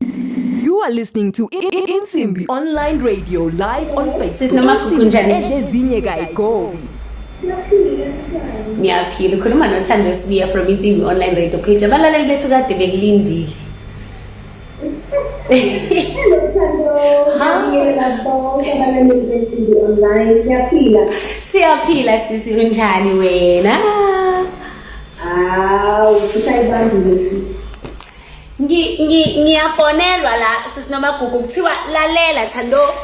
You are listening to Insimbi Online Radio live on Facebook. Sinamagugu njani? Edlezinye kayigobi. Ngiyaphila ukhuluma noThando Sibiya from Insimbi Online Radio page. Abalaleli bethu kade bekulindile. Siyaphila sisi unjani wena? Awu, kusayibandile sisi. ngiyafonelwa la sisinomagugu kuthiwa lalela thando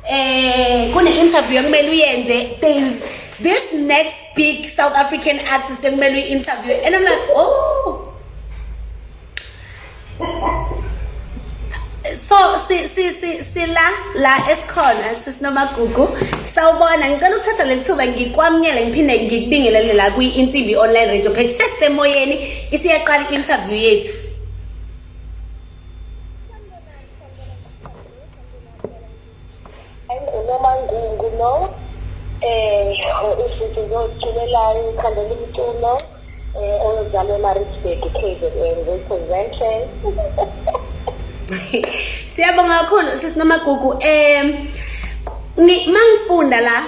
eh kune-interview ekumele uyenze there's this next big south african artist ekumele uyi-interview and i'm like oh so sila la esikhona sisinomagugu sawubona ngicela ukuthatha leli thuba ngikwamukele ngiphinde ngikubingelele la kwi-insimbi online radio page sesisemoyeni Isiyaqala i-interview yethu. Unomangungu lo eh usisi zozitshulelayo ikhandela umculo eh oyozalwa eMaritzburg KZN representing Siyabonga kakhulu sisi Nomagugu eh mangifunda la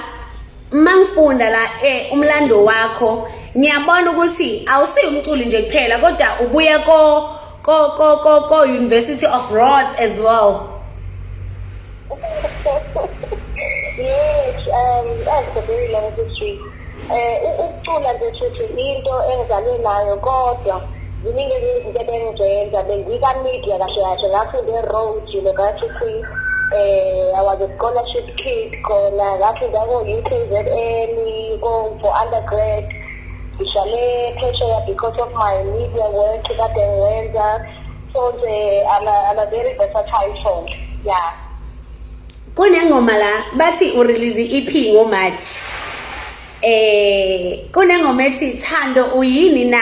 mangifunda la eh umlando wakho ngiyabona ukuthi awusiyi umculi nje kuphela kodwa ubuye ko ko ko ko ko University of Rhodes as well yes um that's a very long history eh ukucula nje futhi into engizalwe nayo kodwa ziningi izinto ebengizenza bengiba media kahle kahle ngafunda eroad university eh i was a scholarship kid khona ngathi ngako-ukzn for undergrad ngihlale phesheya because of my media work kade ngiwenza so nje i'm a, I'm a very versatile song yeah kunengoma la bathi urelease i-ep ngomarch eh kunengoma ethi thando uyini na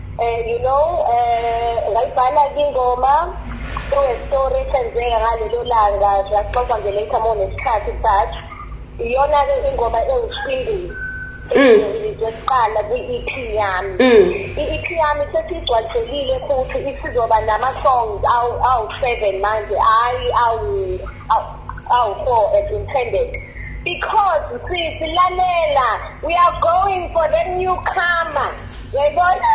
um you know um ngayibhala kingoma story esenzeka ngalelo langa siyaxoxa nje later more nesikhathi but iyona-ke ingoma ewusingile ngizoqala mm. kwi-EP yami mm. i-EP yami sesigcwaliselile futhi isizoba nama-songs awu-seven manje hhayi awu-four as intended because sisi lalela we are going for the newcomer Yayibona?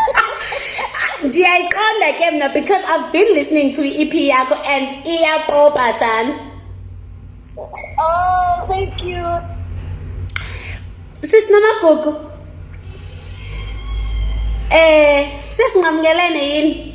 Ndiyayiqonda ke mna because I've been listening to i-EP yakho and iyapopa sana. Oh, thank you. Sis Namagugu. Eh, sesinqamukelene yini?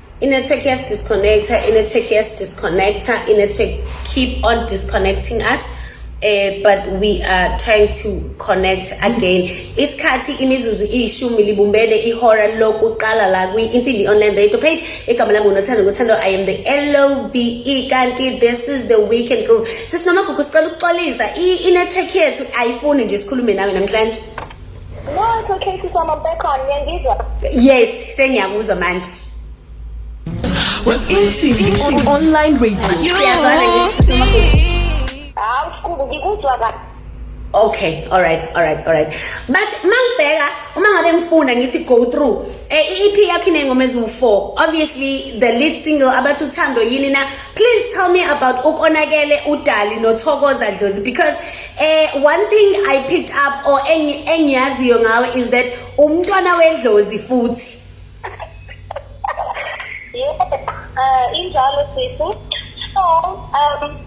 Inetwork yes disconnector, inetwork yes disconnector, inetwork keep on disconnecting us. Uh, but we are trying to connect again isikhathi imizuzu iyishumi libumbene ihora lokuqala la kwi-insimbi online radio page igama lami ngunothando ngothando i am the love kanti this is the weekend group sisinomagugu sicela ukuxolisa i-network yethu ayifuni nje sikhulume nawe namhlanje Nokho Katie sama background ngiyangizwa. Yes, sengiyakuzwa manje. Well, insimbi on online radio. Siyazana ngithi Hawu sikubu ngikuzwa kahle. Okay, all right, all right, all right. But mangibheka uma ngabe ngifuna ngithi go through eh i-EP yakho inengoma eziwu-4. Obviously the lead single abathi uthando yini na. Please tell me about ukonakele udali nothokoza dlozi because Eh one thing I picked up or engiyaziyo ngawe is that umntwana wedlozi futhi. Yebo, uh, injalo sisi. So, um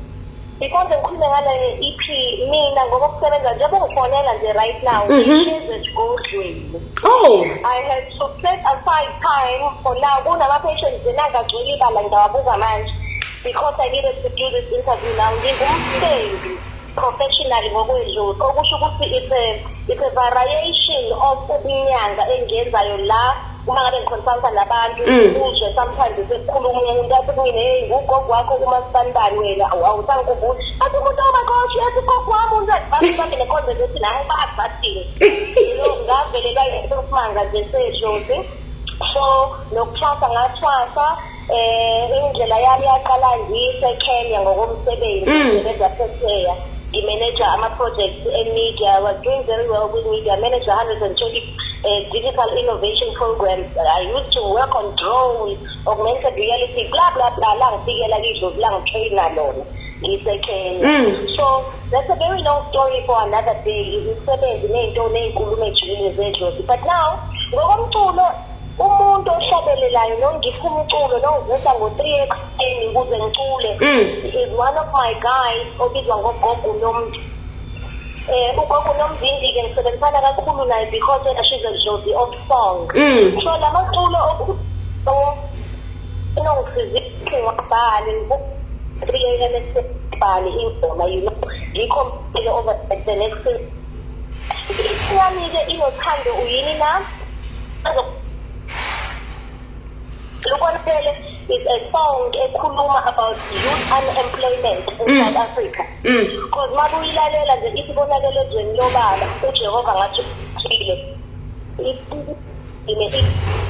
because ngikhulume ngale EP mina ngoba kusebenza njengoba ngifonela nje right now mhm. ngihlezi esigodlweni oh i had to set aside time for now kunama-patients enangagcweli ibala ngidawabuka manje because i needed to do this interview now ngingumsebenzi professionally ngokwedlula okusho ukuthi it's a, it's a variation of ukunyanga engiyenzayo la uma ngabe ngikhonsulta nabantu mm. uzwe sometimes sekukhuluma umuntu athi kumina heyi ngugogo wakho kumasibandani wena awusangikhumbuli athi umuntu omakhoshi athi gogo wami unzebami bambe nekhonzelo ethi naye bazi bathini ngavelelwa yimanga nje seshozi so nokuthwasa ngathwasa Eh indlela yami yaqala ngiseKenya ngokomsebenzi Mm. ngisebenza phesheya. Ngimeneja ama-projects e-media. I was doing very well with media. I managed 120 uh, digital innovation programs. I used to work on drones, augmented reality, blah, blah, blah. La ngifikela kidlozi, la ngitraina lona. ngiseKenya. Mm. So that's a very long story for another day. Imisebenzi ney'nto ney'nkulumo ejulile zedlozi. But now, ngokomculo umuntu ohlabelelayo nongipha umculo nongivusa ngo-three ekuseni ukuze ngicule mm. is one of my guys obizwa ngogogo nomntu um ugogo nomzindi-ke ngisebenzisana kakhulu naye because wena she's a jozi of song mm. so la maculo unongisizile ngabhale three a m esibhale ingoma you know ngikho ngile over the next yami-ke inothando uyini na Lukonele is a song ekhuluma about youth unemployment in mm. South Africa. Mm. Because mm. mabuyilalela nje ithi konakele ezweni lobaba uJehova ngathi uthile. Ine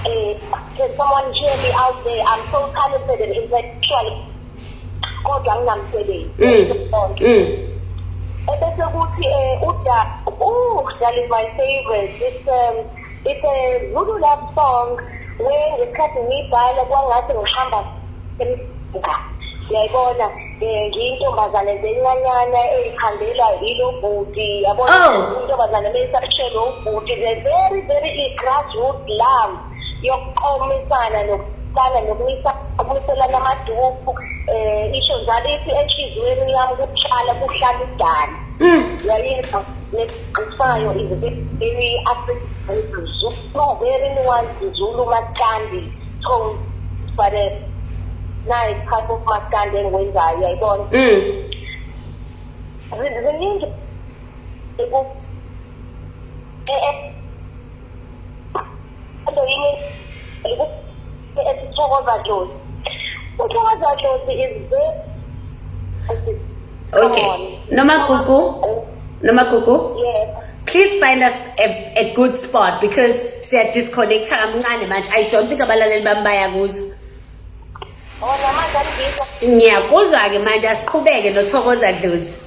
eh can someone hear me out there? I'm so talented and intellectual. kodwa nginamsebenzi mm. ebese kuthi um uda uh that is my favorite it's um it's a zulu love song where ngesikhathi ngiyibhala kwangathi ngihamba emga uyayibona um ngiyintombazane nje encanyana eyikhandela yilo bhuti yabona oh. intombazane meyisashelo ubhuti the very very i-grassroot love yokuqomisana nokuqala nokumiselana amaduku um isho njalo ithi enhliziyweni yami kuhlala kuhlala idala mm. yayinto nesigqisayo izibebeni african zulu very one zulu makandi tone fare nayi part of makandi engwenzayo yayibona mm. ziningi e, e, Okay. Nomagugu. Nomagugu. Yes. Please find us a, a good spot because siya disconnect kamncane manje. I don't think abalaleli bami bayakuzwa. Oh, namanje angizwa. Ngiyakuzwa ke manje asiqhubeke nothokoza dlozi.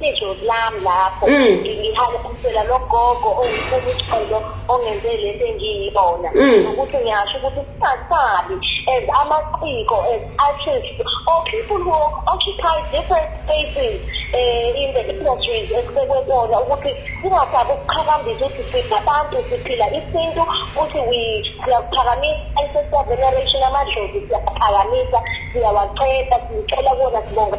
Ijozi lami lapho Mm. ngihamba umsela logogo ongifuna uxolo ongenze lento engiyibona Mm. nokuthi ngiyasho ukuthi singasabi as amaciko as artists or people who occupy different spaces um in the industries esikekwe kona ukuthi singasabi ukuqhakambisa ukuthi singabantu siphila isintu futhi we- siyakuphakamisa ancestor veneration amadlozi siyakuphakamisa siyawacela sicela kona sibonga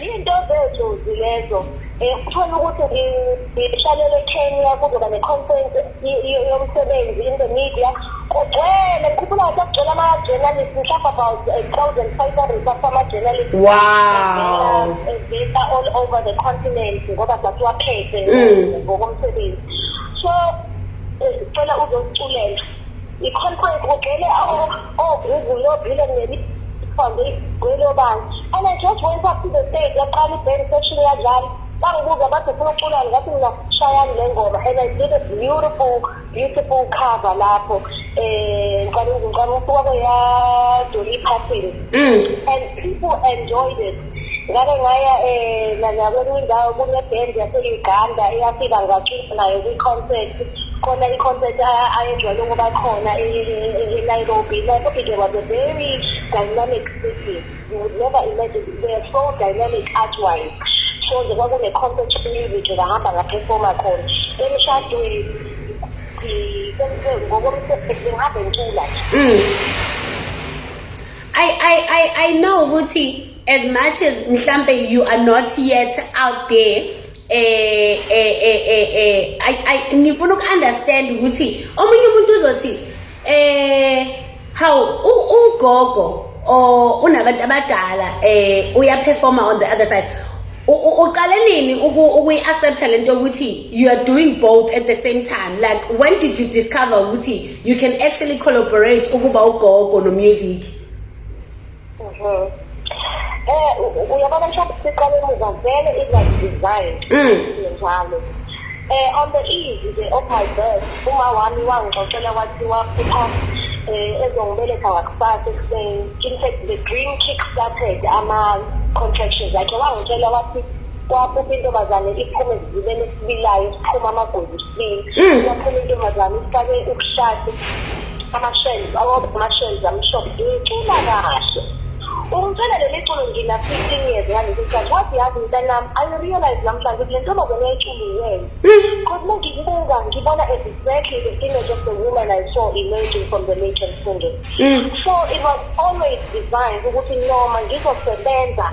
Into zethu lezo um uthole ukuthi ngihlalele Kenya kuzoba ne-conference yomsebenzi in the media kugcwele khumbula ukuthi kugcwele ama-journalist mhlawumbe about a thousand five hundred sama-journalist wow eveta all over the continent ngoba sasiwaphethe mm. ngokomsebenzi so eh, sicela uzosiculela i-conference kugcwele ogugu lobile nemikhonde igwelobani and i just went up to the stage yaqala iband session yadlala bangibuza bathi ufuna uculani ngathi mina shayani le ngoma and i did a beautiful beautiful cover lapho um eh, ngicala ngicala usuka kweyadoli iphathini mm. and people enjoyed it ngake ngaya um nanyakwenye indawo kune-band yase-uganda eyafika ngacula nayo kwi-concert khona i-concert ayejwayele ukuba khona e-nairobi e, e, like okay there was a very dynamic city you would never imagine they are so dynamic artwise so nje kwakune-concert music ngahamba ngaphefoma khona emshadweni ngokomsebenzi ngihambe ngicula nje mm. I, I, I, I know ukuthi as much as mhlampe you are not yet out there eh eh eh eh, eh I, I ngifuna uku-understand ukuthi omunye umuntu uzothi eh how ugogo or unabantu abadala eh uyaperforma on the other side uqale nini ukuyi-accepta lento yokuthi you are doing both at the same time like when did you discover ukuthi you can actually collaborate ukuba ugogo no music mhm. eh uyabona mshado siqale emuva vele izazi design mm. njalo eh on the easy the of my birth uma wami wangixoxela wathi waphupha eh ezongibeletha ngakusasa ekuseni in fact the dream kick started ama contractions akhe wangitshela wathi kwaphupha intombazane iphume zibele esibilayo siphuma amagwebu sibili Mm. kwaphuma intombazane ifake ubushati amashelves amashelves amhlophe ngicula kahle ungicela leli culo ngina 15 years ngalesi sikhathi wathi yazi mntanami i realize namhlanje ukuthi le ntombazane eyiculiweyo because uma ngiyibuka ngibona as exactly the image of the woman i saw emerging from the lake and singing so it was always designed ukuthi noma ngizosebenza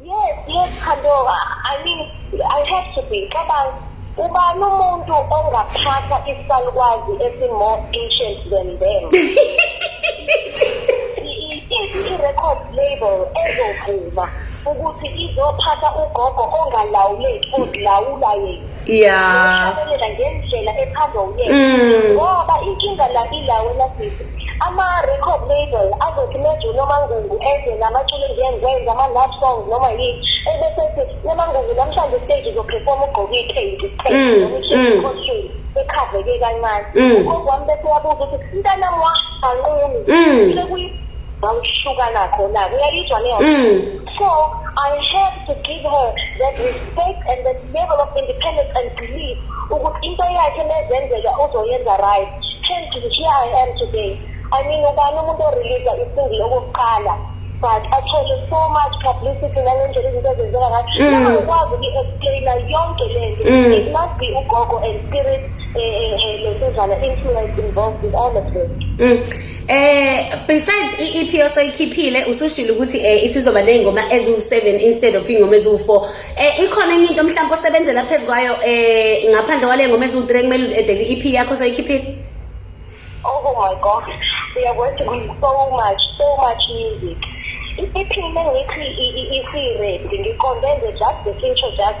Yes, yes, Khandoa. I mean, I have to be. Cabanga, ubani umuntu ongaphatha isalukwazi esi-more ancient than them? i-record label ezovuma ukuthi izophatha ugogo ongalawuleki odlawula yena yeah ushalelela ngendlela ethandwa uyena Mm. ngoba inkinga la ila wena sisi ama-record label azothi meju nomangungu eze namaculo engiyengikwenza ama-love songs noma yini ebese ethi nomangungu namhlanje stage uzophefoma ugqoke iphenti Mm, mm. costume ekhaveke kancane Mm. ugogo wami bese yabuza ukuthi mntanami wahanqumi Mm. sekuyibawushukana khona-ke uyayizwa leyo Mm. So I have to give her that respect and that level of independence and belief ukuthi into yakhe nezenzeka uzoyenza right. Hence here I am today. I mean ubani umuntu orelease isingile okokuqala but athole so much publicity ngale ndlela izinto ezenzeka ngayo. Mm. Noma ukwazi uku-explaina yonke le nto. Mm. It must be ugogo and spirit eh, eh, eh, lesizana influence involved with all of this. Mm. Eh besides iEP osoyikhiphile usushilo ukuthi eh isizoba nezingoma eziwu7 instead of ingoma eziwu4. Eh ikhona enye into mhlawumbe osebenzela phezukwayo eh ngaphandle kwale ngoma eziwu3 kumele uzedele iEP yakho osoyikhiphile. Oh my god. We are going to be so much so much music. Iphinde ngithi i-read ngiqonde nje just the future just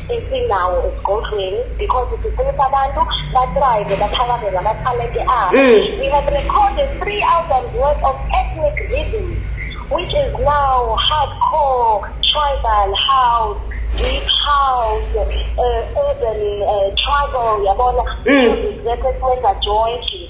esinawo esigodlweni because sifunisa abantu bathrive baphakame ngamathalente abo mm. we have recorded three albums worth of ethnic rhythms which is now hardcore tribal house deep house uh, urban uh, tribal yabona mm. music that is mega jointly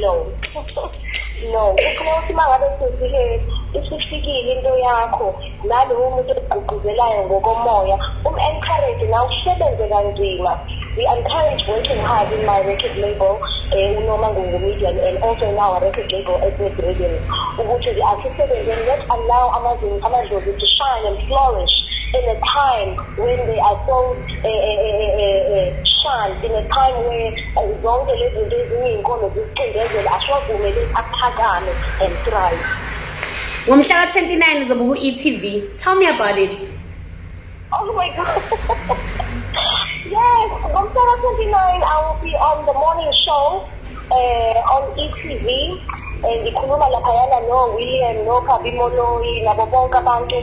no no ufuna ukuthi uma ngabe senzile isifikile into yakho nalowo muntu ekugqugquzelayo ngokomoya um-encourage na usebenze kanzima we encourage working hard in my record label um unoma ngungumedian and also in our record label ethnic rhythm ukuthi asisebenzeni let allow amadlozi to shine and flourish in a time when they are so shanti ne-prime wethu zonke lezi zinto eziyinkolo zisicindezela asiwavumele aphakame and thrive ngomhla ka-29 uzobuka u-etv tell me about it oh my god yes ngomhla ka-29 i will be on the morning show eh on etv eh, ngikhuluma laphayana no-william no-kabi moloi nabo bonke abantu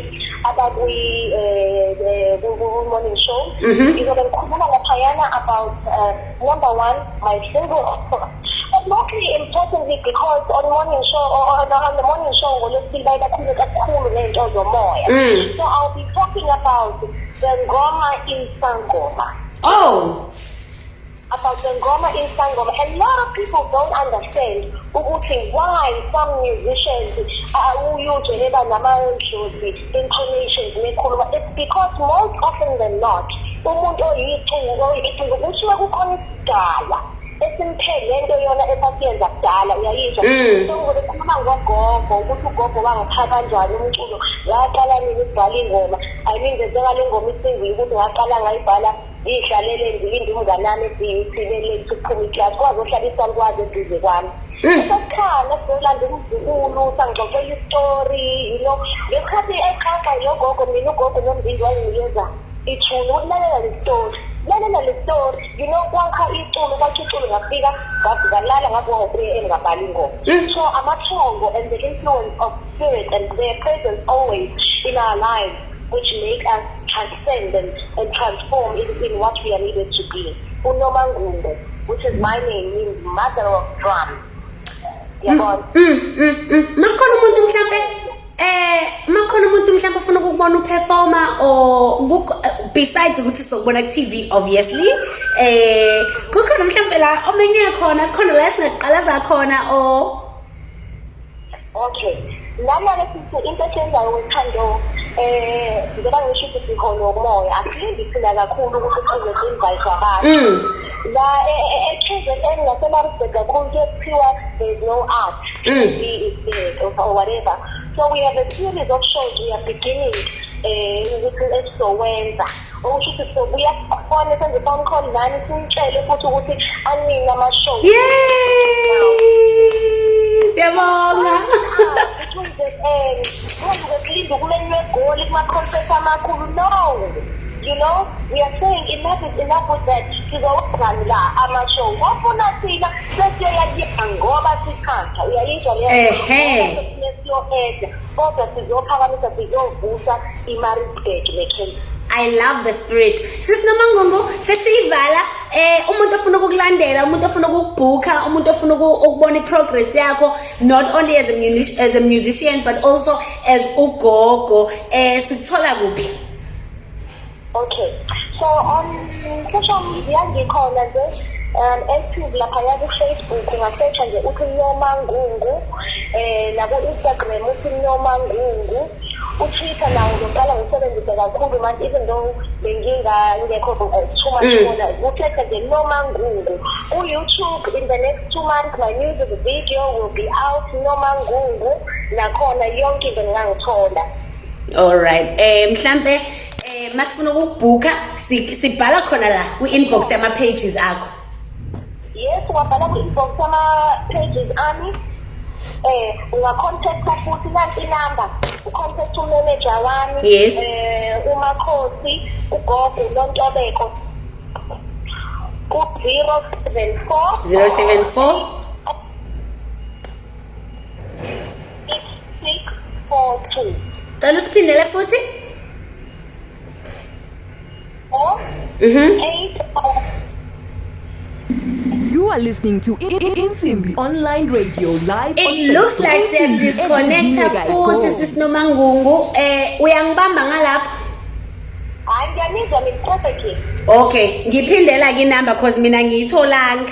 abakwi-morning eh, show mhm. ngizobe ngikhuluma laphayana about eh, number one my single mostly importantly because on morning show or on, on the morning show ngolwesibili baye bakhulume kakhulu ngey'nto zomoya mm. so i'll be talking about the ngoma insangoma oh about the Ngoma in Sangoma. A lot of people don't understand ukuthi why some musicians uh, uyuje heba namadlozi intonations nekhuluma. It's because most often than not umuntu oyicungu oyicungu kuthiwa kukhona isidala esimphethe lento yona esasiyenza kudala uyayizwa mm. sengivele khuluma ngogogo ukuthi ugogo wangipha kanjani umculo ngaqala nini ukubhala ingoma i mean ngenzeka le ngoma isingile ukuthi ngaqala ngayibhala ngiyihlalele ngilinde umnganami esiyithile lethu ukuphuma iklasi kwaze ohlala isankwazi eduze kwami mm. esekhala solanda umzukulu sangixoxela istori yino ngesikhathi exaxa yilogogo mina ugogo nombindi wayenginikeza ithuna ukulalela le stori lalela le stori yino kwakha iculo kwakha iculo ngafika ngazikalala ngakuhope engabali ingoma mm. so amathongo and the influence of spirit and their presence always in our lives which make us transcend and, and transform into in what we are needed to be. Unomangunde, which is my name, means mother of drums. Yabona? Mm, mm, mm. Makhona umuntu mhlambe eh makhona umuntu mhlawumbe ofuna ukubona uperformer or besides ukuthi sokubona ku TV obviously eh kukhona mhlawumbe la omenye khona khona la singaqalaza khona or okay lana lesithi into esiyenzayo wethando um eh, njengoba ngisho ukuthi siholo umoya asilindi thina kakhulu ukuthi size sinvayise abantu mm. la e, e, e, e-kzn nasemaritzburg kakhulu kuyekuthiwa there's no art mm. or whatever so we have a series of shows we are beginning um ukuthi esizowenza okusho ukuthi sobuya sikhona senze phone call nani simtshele futhi ukuthi anini amashow siyabonga kulinda ukumenywa egoli kuma-concert amakhulu no you know we are saying enough is enough with that sizowenzani la amashow ofuna thina sesiyoyakuyeka ngoba sithanda uyayizwa leyo ehe kodwa sizophakamisa sizovusa imarisburg necape I love the spirit. Sis nomangungu sesiyivala eh umuntu ofuna ukukulandela, umuntu ofuna ukukubhuka, umuntu ofuna ukubona iprogress yakho not only as a musician, as a musician but also as ugogo eh sikuthola kuphi? Okay. So on social media ngikhona nje um active lapha ya ku-Facebook ungasearcha nje uthi Nyoma Ngungu eh nabo Instagram uthi Nyoma Ngungu uTwitter nawo ngiqala ngisebenzise kakhulu manje even though bengingangekho kuchuma mm. khona ukhethe nje Nyoma Ngungu ku-YouTube in the next two months my music video will be out Nyoma Ngungu nakhona yonke into ngingangithola all right eh mhlambe Eh masifuna ukubhuka sibhala khona la ku inbox yama pages akho. Yes, wabhala ku inbox yama pages ami. Eh unga contact futhi nanti number. U contact u manager wami. Yes. Eh uma khosi ugogo lontobeko. Ku 074 074 6642 cela usiphindele futhi oh mhm 80 You are listening to Insimbi Online Radio live. It looks like they're disconnected futhi sisinomangungu eh uyangibamba ngalapha. Hayi ngiyanizwa ngiphothe. Okay, ngiphindela ke number cause mina ngiyitholanga.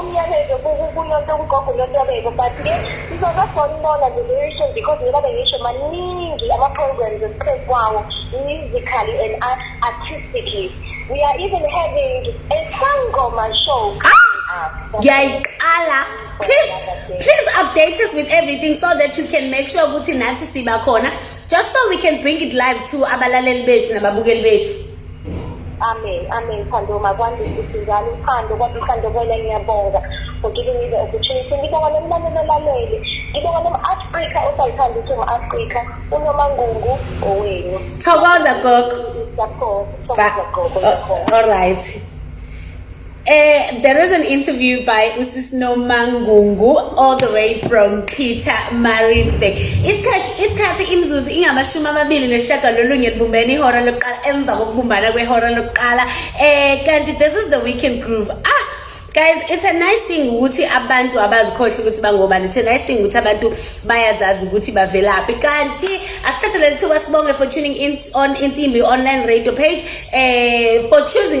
umyalezo kunoto kugogo notobeko but ke sizozofona ubona the very soon because ngoba bengisho maningi ama-programs esiqhezi kwawo musically and artistically we are even having a sangoma show ngiyayiqala please please update us with everything so that you can make sure ukuthi nathi siba khona just so we can bring it live to abalaleli bethu nababukeli bethu amen amen thando makwandise sizalo uthando kwaba uthando kwena ngiyabonga for giving me the opportunity ngibonga nomlaleli olalele ngibonga nom-afrika osayithanda ukuthi um-afrika unomangungu owenu thokoza gogo thokoza gogo all right Uh, there was an interview by Usis Nomangungu all the way from Peter Maritzburg. Isikhathi imizuzu ingamashumi amabili neshagalolunye libumbene ihora lokuqala emva kokubumbana kwehora lokuqala. Eh kanti this is the weekend groove. Ah guys it's a nice thing ukuthi abantu abazikhohle ukuthi bangobani it's a nice thing ukuthi abantu bayazazi ukuthi bavelaphi kanti asithathe leli thuba sibonge for tuning in on insimbi online radio page eh for choosing